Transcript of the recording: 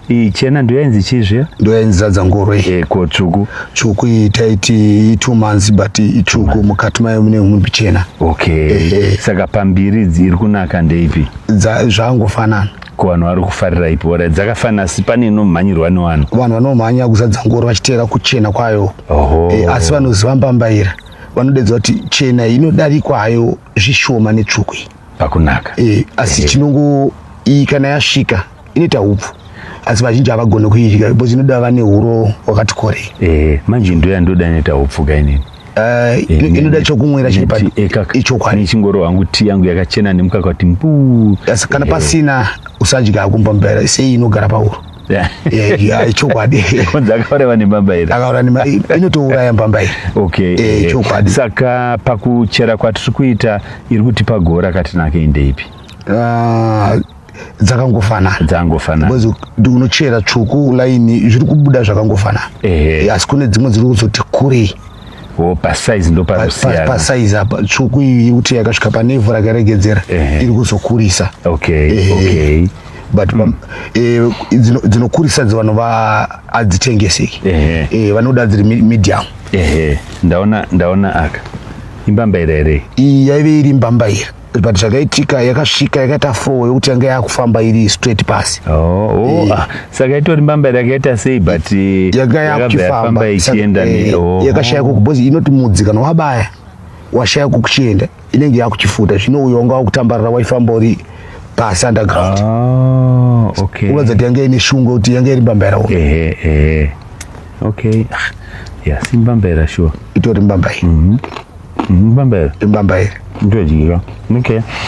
iyi chena ndoyainzi chii zviya ndoyainzi zadza ngoro iyi eh, ko tsvuku tsvuku iyi taiti itwo months but itsvuku mukati mayo mune humwe mbichena okay eh, eh. saka pambiri iri kunaka ndeipi zvangofanana ko vanhu vari kufarira ipi ora dzakafanira asi pane inomhanyirwa nevanhu vanhu vanomhanya kuzadza ngoro vachiteera kuchena kwayo eh, asi vanoziva mbambaira vanodedza kuti chena inodarikwa hayo zvishoma netsvuku iyi pakunaka eh, asi eh. chinongo iyi kana yasvika inoita hupfu asi vazhinji havagone kuidya because inoda vane huro wakati korei eh, manje ndo yandoda inoita hupfu kainini eh, eh, inoda chokumwira chiri paichokwadi ichingoro hangu ti yangu yakachena nemukaka kuti mbu asi kana pasina usadya akumba mbera sei inogara pahuro chokwadi kunzi akauraiwa nembambairi akaura inotouraya mbambairi okay chokwadi saka pakuchera kwatiri kuita iri kutipa gora katinake indeipi ah, dzakangofanana dzakangofanana because unochera tsvuku line zviri kubuda zvakangofanana ehe asi kune dzimwe dziri kuzoti kurei Oh, pasaizi ndo panosiyana pasaizi apa tsvuku iyi kuti yakasvika pane ivhu rakaregedzera iri kuzokurisa okay ehe. okay but mm. eh, dzinokurisa dzi vanhu adzitengeseki eh, vanoda dziri medium ehe ndaona ndaona aka imbambaira here iyi yaive iri mbambaira but zvakaitika yakasvika yakaita four yokuti yanga yakufamba iri straight pasi oh, oh, eh. ah, saka itori mbamba yakaita sei but eh, yanga yakuchifamba ichienda eh, oh. yakashaya kuku because inoti mudzi kana wabaya washaya kukuchienda inenge yakuchifuta zvino uyo wanga wakutambarira waifamba uri pasi underground ah, okay. unoratidza kuti yanga ine shungu yokuti yanga iri mbamba yaraona Okay. Ah, yeah, simbambaira sure. Itori mbambaira. Mm -hmm. Mbambaira. Imbambaira. Ndodyira. Okay.